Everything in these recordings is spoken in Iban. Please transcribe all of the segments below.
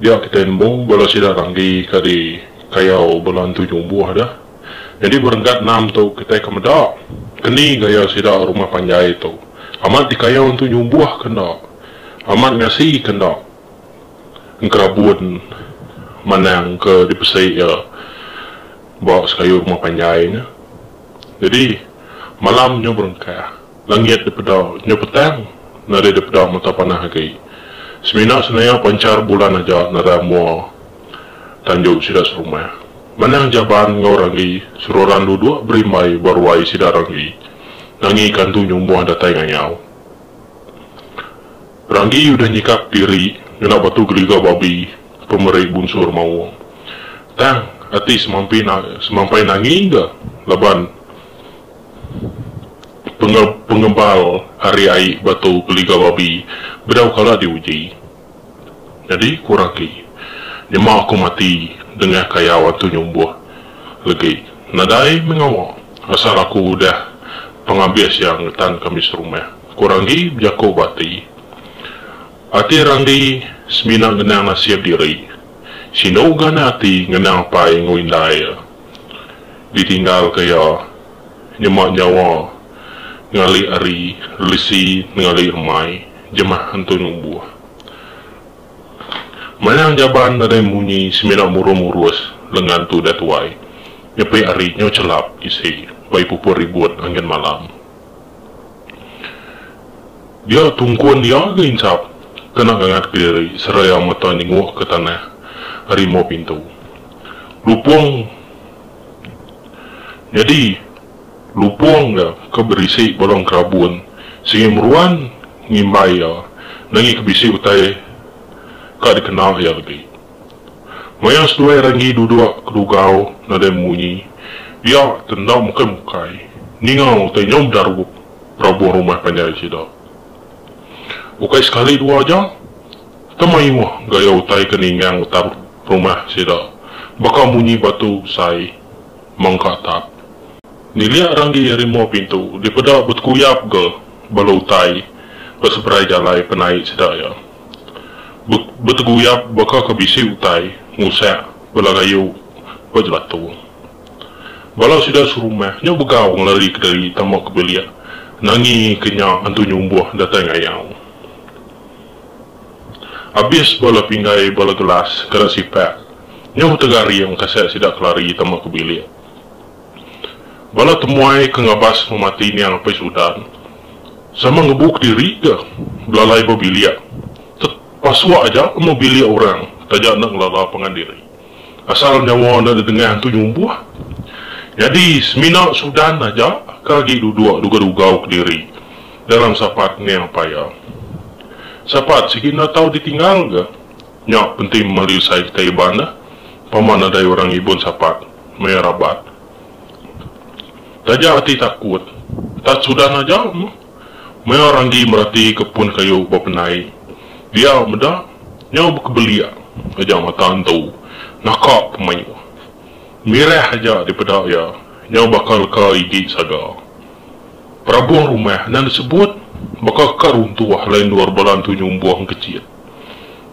Dia kitai nembu bala sida randi ka di kayau bala entu nyumbuh da. Nyadi berenggat enam tu kitai ka meda keni gaya sida rumah panjai tu amat di kayau entu nyumbuh ka enda amat ngasi ka enda engkerabun manang ka di pesi iya ba sekayu rumah panjai nya. Nyadi malam nyu berengkah. Langit dipeda nyau petang, nadai dipeda mata panah agi. Semina senaya panchar bulan aja nadai mua tanjung sida serumah. Manah Jaban enggau Ranggi seruran duduk berimbai ba ruai sida Ranggi nangi kantu nyumbuh datai ngayau. Ranggi udah nyikap diri ngena batu geliga babi pemeri bunsur maung. Tang, ati semampi semampai nangi ga laban. pengebal ari ai batu geliga babi bedau kala diuji. Nyadi ku Raki, Nyema aku mati dengah kayau antu nyumbuh legi. Nadai meh ngawa asal aku udah pengabis iya ngetan kami serumah, ku Ranggi bejaku ba ati. Ati Ranggi semina ngenang nasib diri. Sinu ganak ati ngenang apai enggau indai iya. ditinggalka iya nyema nyawa ngalih ari relesi ngalih remai jemah entu numbuh. Manang jaban nadai munyi semina murung murus lengan tudah tuai nyepi ari nyau chelap isi ba ibu put ribut angin malam. Dia tungkun iya ga inchap kena ngangatka diri seraya mata nyengukka tanah ari emau pintu. Lupong Nyadi lupong nya ke berisi balong kerabun sigi meruan ngimbai iya nenggi ke bisi utai ka dikena iya agi. Maya seduai Renggi duduk ke dugau nadai munyi, dia ke enda mukai-mukai ninga utai nyau bedarup berabong rumah panjai sida. Ukai sekali dua aja, Ke mayuh gaya utai ke ningang atap rumah sida, baka munyi batu sai mengka atap. Nilik ranggi ari mua pintu dipeda betekuyap ga bala utai ba seberai jalai penai sida iya. Be beteguyap baka ke bisi utai ngusak bala gayu ba jelatung. Bala sida serumah nya begau ngelari kediri tama ke bilik nangi ke nya antu nyumbuh datai ngayau. Abis bala pinggai bala gelas kada sipak nyauh tegaring kasek sida kelari tama ke bilik. Bala temuai ke ngabas memati niang Apai Sudan sama ngebu kediri ga belalai ba bilik tet pasuk aja tama bilik orang taja enda ngelala pangan diri asal nyawa enda didengah antu nyumbuh. Nyadi semina Sudan aja ke agi duduk duga-dugau kediri. dalam sapat ngeang paya. Sapat sigi enda tau ditinggal ga. Nya penti memali usai kitai Iban dah, pama nadai orang ngibun sapat maya rabat. Taja ati takut, tat sudan aja meh. Maya Randi merati ke pun kayu bependai dia meda nyau bekebelik aja mata entu naka pemayuh. Mireh aja dipeda iya nyau baka leka igi saga. Perabung rumah enda disebut baka ka runtuh alai endur bala Entu Nyumbuh engkecit.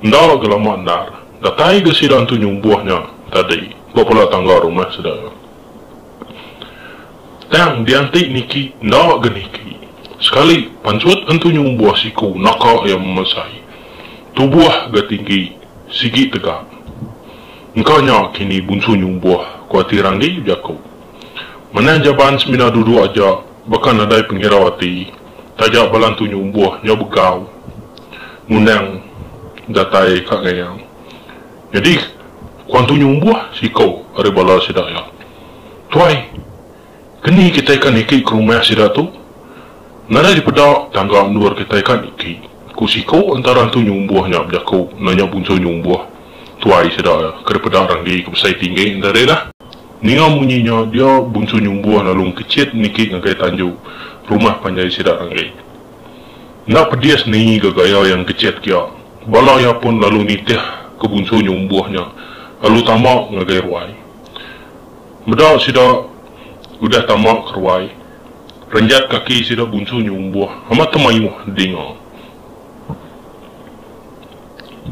Enda ga lama endar, datai ga sida Entu Nyumbuh nya tadi ba bala tangga rumah sida. Tang dianti niki enda ga niki, sekali panchut Entu Nyumbuh siku naka iya memesai. Tubuh ga tinggi sigi tegap. Engka nya kini Bunsu Nyumbuh, ku ati Randi bejaku. Manah Jaban semina duduk aja baka nadai pengirau ati taja bala entu nyumbuh nyau begau ngundang datai ka ngayang. Nyadi ku antu nyumbuh siko ari bala sida iya, Tuai, keni kitai ka niki ke rumah sida tu? Nadai dipeda tangga endur kitai ka niki, ku siko entara entu nyumbuh nya bejaku nanya bunsu nyumbuh tuai sida iya ke dipeda renggi ke besai tinggi enda deh nah. Ninga munyi nya, dia Bunsu Nyumbuh lalu engkechit niki ngagai tanju rumah panjai sida anggai. Enda pedis ningi ga gaya iya engkechit kia, bala iya pun lalu nitih ke Bunsu Nyumbuh nya lalu tama ngagai ruai. Meda sida udah tama ke ruai, renjat kaki sida Bunsu Nyumbuh amat temayuh dinga.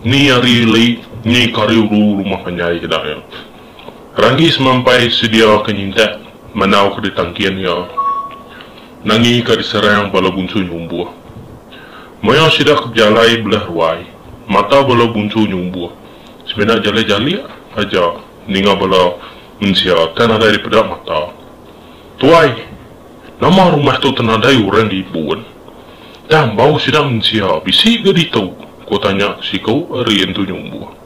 Ni ari lei, ni kariuru rumah panjai sida iya. Randi semampai sedia ke nyintak manau ke ditangkin iya nangi ka diserang bala bunsu nyumbuh. Maya sida ke bejalai belah ruai, mata bala bunsu nyumbuh semina jalik-jalik aja ninga bala mensia ke nadai dipeda mata. Tuai, nama rumah tu tenadai orang di ibun? Tang bau sida mensia bisi ga ditu? ku tanya siku ari Entu Nyumbuh.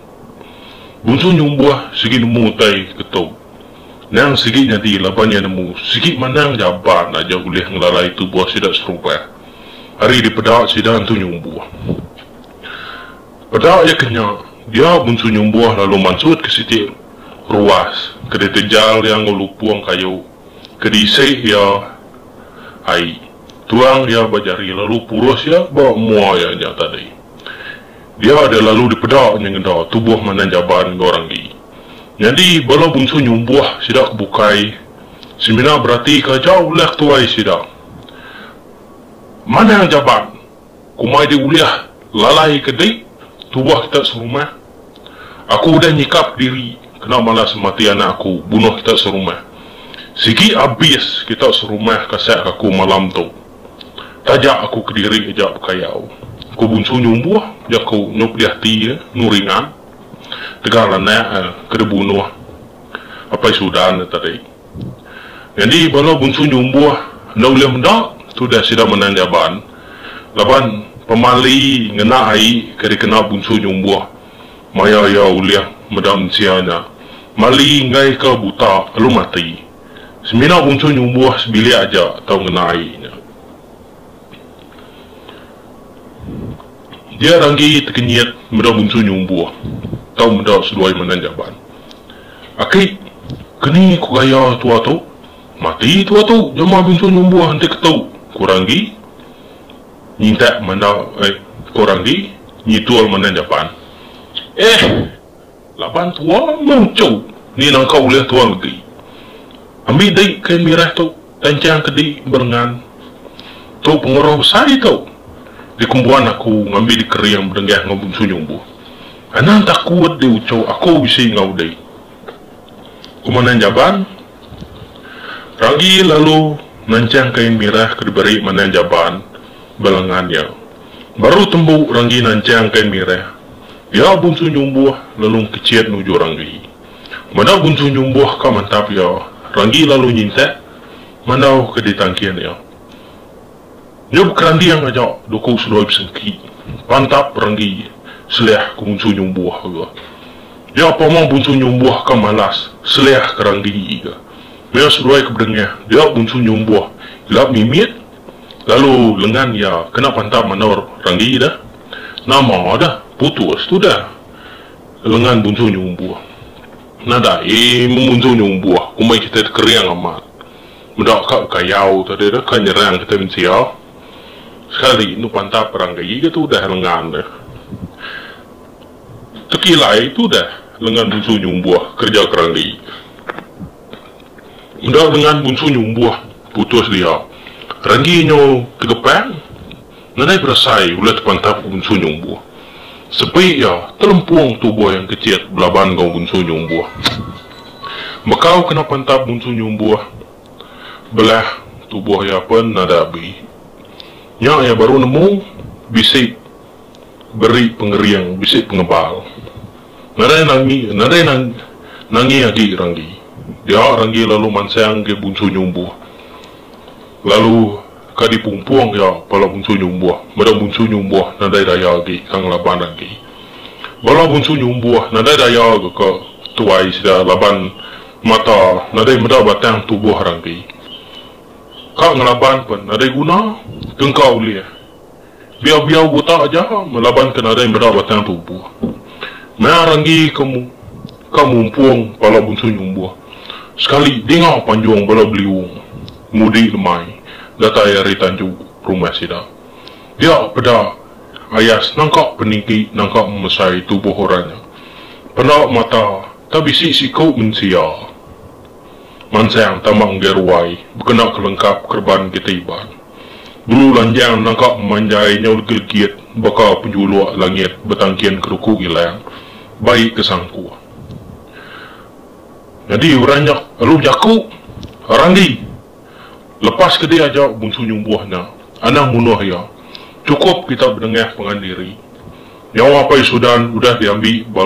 Busu nyumbuh sigi nemu utai ke tu. Nang sigi nyadi laban iya nemu sigi manang jamban aja ulih ngelalai tubuh sida serubah ari dipeda sida entu nyumbuh. Peda iya ke nya, dia Bunsu Nyumbuh lalu mansutka siti ruas ke ditejal iya enggau lupung kayu ke diisi iya ai. Tuang iya ba jari lalu purus iya ba mua iya nya tadi. Dia da lalu dipeda nya ngeda tubuh Mandan Jaban enggau Randi. Nyadi, bala bunsu nyumbuh sida ke bukai semina beratika jau ulih ke tuai sida. Mandan Jaban, ku mai dia ulih lalai ke dek tubuh kita serumah? Aku udah nyikap ke diri kena malas semati anak aku bunuh kita serumah. Sigi abis kita serumah kasek aku malam tu. Taja aku kediri aja bekayau. Ku Bunsu nyumbuh jaku nyu pedih ati iya enggau ringan tegal anak iya ke dibunuh Apai Sudan iya tadi. Nyadi bala Bunsu nyumbuh enda ulih meda tudah sida menang jaban laban pemali ngena ai ke dikena Bunsu nyumbuh maya iya ulih meda mensia nya mali enggaika buta lalu mati. Semina bungsu nyumbuh sebilik aja tau ngena ai nya. Dia ranggi tekenyit meda bungsu nyumbuh tau meda seduai manah jaban. Aki, keni ku gaya tua tu? Mati tua tu jemah bungsu nyumbuh enti ketu, ku ranggi nyintak manah eh, ku ranggi nyitul manah jaban. Ehh. Laban tua muncu ni nangka ulih tua legi. Ambi di kain mirah tu tanjang ke di berengan. Tu pengeruh besai tu di kumbuan aku ngambi di kering bedenggah enggau bungsu nyumbuh. Anang takut di uchu aku bisi enggau di. Komandan Jaban Ranggi lalu nanjang kain mirah ke diberi Manang Jaban ba lengan iya. Baru tembu Ranggi nanjang kain mirah. Iya bunsu nyumbuh lalu engkecit nuju Ranggi. Meda bunsu nyumbuh ka mantap iya, Ranggi lalu nyintak mandau ke ditangkin iya. Nya bekeranding aja duku seloi besengki. Pantap Ranggi selih ke bunsu nyumbuh ga. Nya pama bunsu nyumbuh ka malas selih ke Ranggi ga. Meh seloi ke bedengah dia bunsu nyumbuh ila mimit. Lalu lengan iya kena pantap manor randi dah. Nama dah putus tu dah. Lengan bunsu nyumbuh. Nadai memunsu nyumbuh komai kitai tu kering amat. Meda ka bekayau tadi tu ka nyerang kitai mensia. Sekali enu pantap randi ke tu dah lengan ne. Tekilai tu dah lengan bunsu nyumbuh kerja ke randi. Enggau dengan bunsu nyu umbuh putus dia, Renggi nyu tegepang nadai berasai ulih tepantap ke bunsu nyu umbuh. Sepi iya telempung tubuh yang kecit belaban enggau bunsu nyu umbuh. Bekau kena pantap bunsu nyu umbuh, belah tubuh iya pen nadai abi. Nya iya baru nemu bisi beri pengering, bisi pengebal. Nadai nangi nadai nang nangi agi Ranggi. Dia Ranggi lalu mansang ke Bunsu Nyumbuh. Lalu ka di pumpung iya pala Bunsu Nyumbuh meda Bunsu Nyumbuh nadai daya agi tang laban agi. Bala Bunsu Nyumbuh nadai daya ga ka tuai sida laban mata nadai meda batang tubuh Ranggi. Ka ngelaban pen nadai guna ke engka ulih Biau-biau utak aja laban ke nadai meda batang tubuh. Maya ranggi ke mu ka mumpung pala bunsung nyumbuh. Sekali dinga panjung bala beliung mudi lemai datai ari tanju rumah sida. Dia peda ayas nangka peninggi nangka memesai tubuh orang nya. Penda mata ta bisi siku mensia. Mansang tama enggai ruai bekena ke lengkap kereban kita Iban. Dulu lanjang nangka pemanjai nyau legit-legit baka penjuluk langit betangkin keruku ilang bai ke sangkuh. Nyadi orang nya alu jaku, Randi! Lepas ke diaja Bungsu Nyumbuh nya anang munuh iya, chukup kita bedengah pangan diri. Nyawa Apai Sudan udah diambi ba.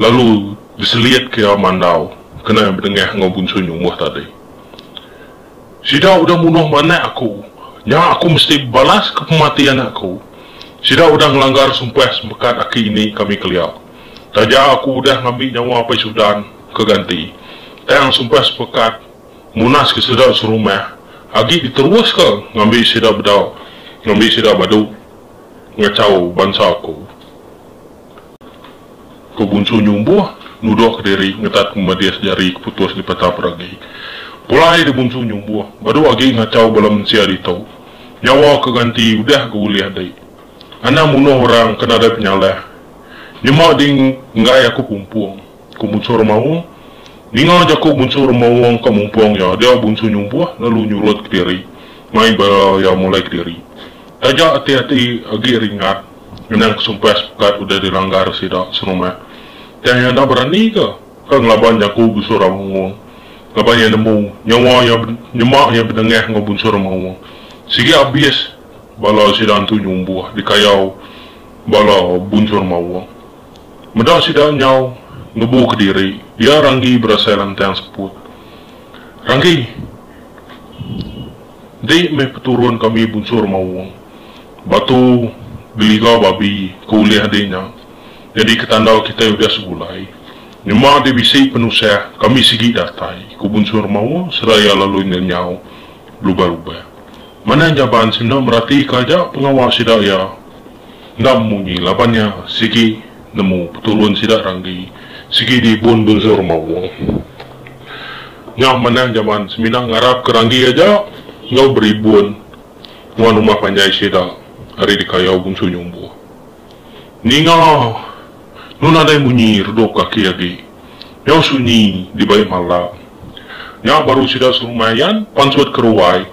Lalu diselit ke iya mandau kena bedengah enggau Bunsu Nyumbuh tadi. Sida udah munuh manak aku, nya aku mesti bebalas ke pemati anak aku. Sida udah ngelanggar sumpah sempekat aki ini kami kelia. Taja aku udah ngambi nyawa Apai Sudan ke ganti, tang sumpah sempekat munaska sida serumah agi diteruska ngambi sida bedau ngambi sida badu ngachau bansa aku. Ku Bunsu Nyumbuh nuduhka diri ngetat pemedis jari ke putus dipeta peragi. Pulai deh Bunsu Nyumbuh badu agi ngachau bala mensia ditu. Nyawa ke ganti udah ga ulih deh. Anang munuh orang ke nadai penyalah. Nyema ding enggai aku pumpung, ku Bunsu Remaung. Ninga jaku Bunsu Remaung ka mumpung iya dia Bunsu Nyumbuh lalu nyurutka diri mai ba iya mulai kediri. Taja ati-ati agi ringat. Endang ke sumpai sepekat udah di langgar sida serumat. Tang iya enda berani ke ke ngelaban jaku Bunsu Ramaung laban iya nemu nyawa iya nyema iya benengah enggau Bunsu Ramaung. Sigi abis bala sida entu nyumbuh dikayau bala Bunsu Ramaung. Meda sida nyau ngebu kediri iya Ranggi berasai lantang seput. Ranggi. Enti meh peturun kami bunsur maung, batu geliga babi ke ulih adi nya nyadi ke tanda kitai udah segulai. Nyema ati bisi penusah kami sigi datai, ku bunsur maung sereta iya lalu ngenyau belubah-lubah. Manah Jaban senda meratika aja pengawa sida iya. Endang munyi laban nya sigi nemu peturun sida ranggi sigi di Bun Bunzur Mawung. Nya manah jaman semina ngarap ke ranggi aja enggau beri bun nuan rumah panjai sida ari dikayau Bungsu Nyumbuh. Ninga nun nadai munyi redup kaki agi nyau sunyi dibai malam. Nya baru sida serumai yan pansut ke ruai.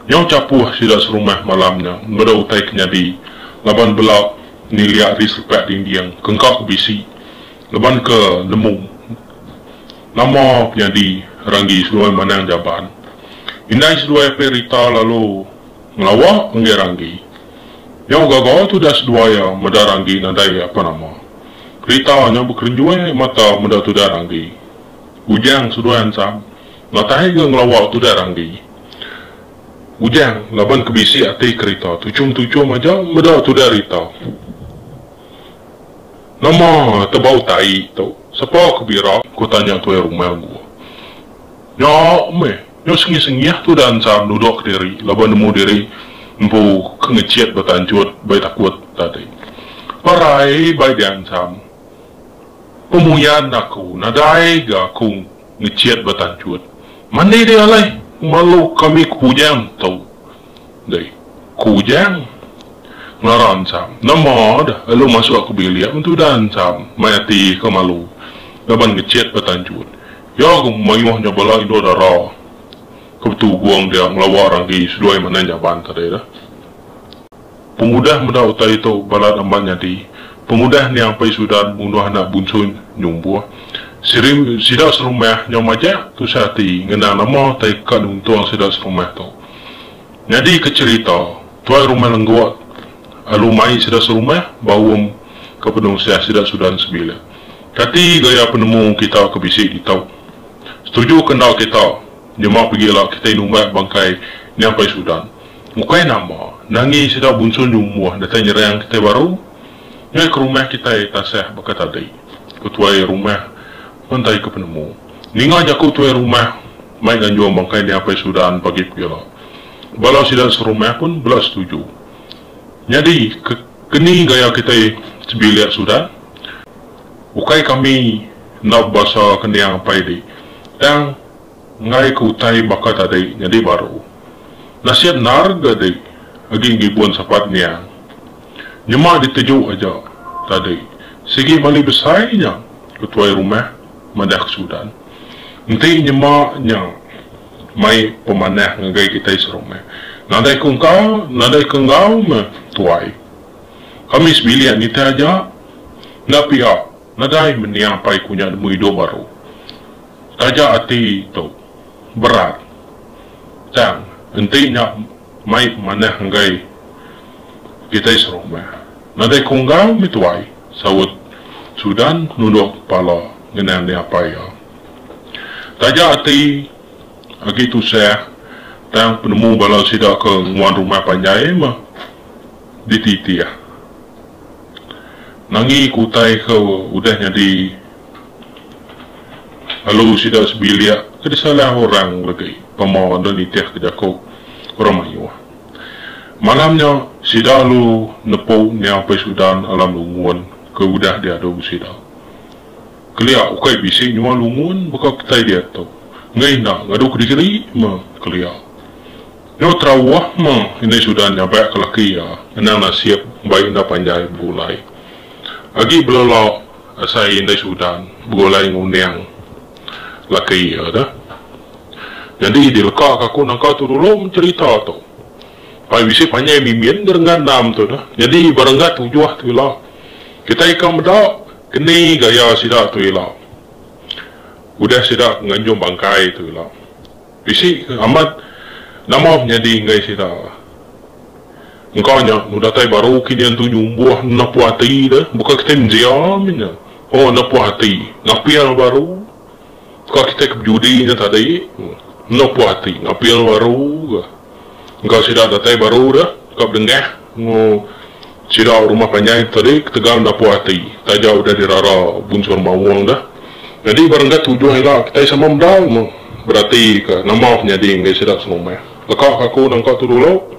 Nyau chapuh sida serumah malam nya enggeda utai ke nyadi laban bela niliak ari selepak dinding ke engka ke bisi laban ke nemu nama penyadi ranggi seduai manang jaban. Indai seduai apai Rita lalu ngelawa enggai ranggi. Nyau gaga tudah seduai iya meda ranggi nadai apa nama. Rita nyau bekerenjui mata meda tudah ranggi. Bujang seduai ansang. Matahi enggau ngelawa tu da randi. Bujang laban ke bisi ati kerita tuchum-tuchum aja meda tu da rita. Nama tebau tai tu sapa ke bira ku tanya tuai rumah gua. Nya meh nya sengih-sengih tu da ensar duduk kediri laban nemu diri empu ke ngechit betanchut bai takut tadi. Parai bai diansam. Pemuyan aku nadai ga aku. Ngechat ba tanchut. Mandi deh alai. Malu kami ku Ujang tu. Deh. Ku Ujang. Ngara ensam. Nama deh elu masuk aku bilik mentu udah ensam. Mai ati ka malu. Laban ngechat ba tanchut. Ya ku mayuh nya bala indu dara. Ke betugong dia ngelawa ragi seduai manah nyaban tadi deh. Pengudah meda utai tu balat amba nyadi, pengudah niang Pai Sudan munduh anak bunsuny nyumbuh. Siri sida serumah nyau majak tusah ati ngena nama utai ka nuntung sida serumah tu. Nyadi ke cherita, tuai rumah lenggok alu mai sida serumah ba um ke penusah sida Sudan sebilik. Kati gaya penemu kita ke bisi ditu? Setuju ke enda kita nyema pegila kitai numbat bangkai niang Pai Sudan? Ukai nama, nangi sida bunsu nyumbuh datai nyerang kitai baru ngagai ke rumah kitai tasah baka tadi, ku tuai rumah Mentai ke penemu. Ninga jaku tuai rumah, mai nganjung bangkai Nia Apai Sudan pagi pia. Bala sida serumah pun bela setuju. Nyadi, ke keni gaya kitai sebilik Sudan? Ukai kami enda bebasa ke Nia Apai di, tang. Enggai ke utai baka tadi nyadi baru. Nasit endar ga di agi ngibun sapat niang. Nyema diteju aja tadi sigi mali besai nya ke tuai rumah madah ke Sudan. Enti nyema nya mai pemanah ngagai kitai serumah. Nadai ke engka nadai ke enggau meh tuai. Kami sebilik nitih aja enda pia nadai menia pai ku nya nemu idup baru. Taja ati tu berat tang enti nya mai manah enggai kitai serumah. Nadai ke unggal mih tuai, saut Sudan nunduk kepala ngena nia apai iya. Taja ati agi tusah tang penemu bala sida ke nguan rumah panjai meh dititih. Nangi ke utai ke udah nyadi. Lalu sida sebilik ke disalah orang enggai tama enda nitihka jaku orang mayuh. Malam nya, sida lalu nepu Nya Paisudan Alam Lungun ke udah diadu sida. Kelia ukai bisi nyual lungun baka kitai diatu, enggai enda ngadu kediri me kelia. Nya Terawuh me Indai Sudan nyabak ke laki iya ngenang nasib mbai enda panjai begulai. Agi belala Asai indai Sudan begulai ngundang laki iya tu. Nyadi dilekaka aku nangka tu dulu mencherita tu. Pai bisi panjai mimin ngerenggat endam tu dah. Nyadi ba renggat tujuh tu ila. Kitai ka meda keni gaya sida tu ila. Udah sida nganjung bangkai tu ila. Bisi ke amat nama nyadi enggai sida. Engka nya enu datai baru kinya enti nyumbuh enda puas ati deh buka kitai menjia mih nya oh enda puas ati ngapil baru ka kitai ke bejudi nya tadi enda puas ati ngapil baru ka. Engka sida datai baru dek ka bedengah engu sida rumah panjai tadi ketegal enda puas ati taja udah dirara bunsur maung deh. Nyadi ba renggat tujuh ila kitai sama mendal meh berati ka nama ke nyadi enggai sida selumah. Leka ka aku nangka tu dulu.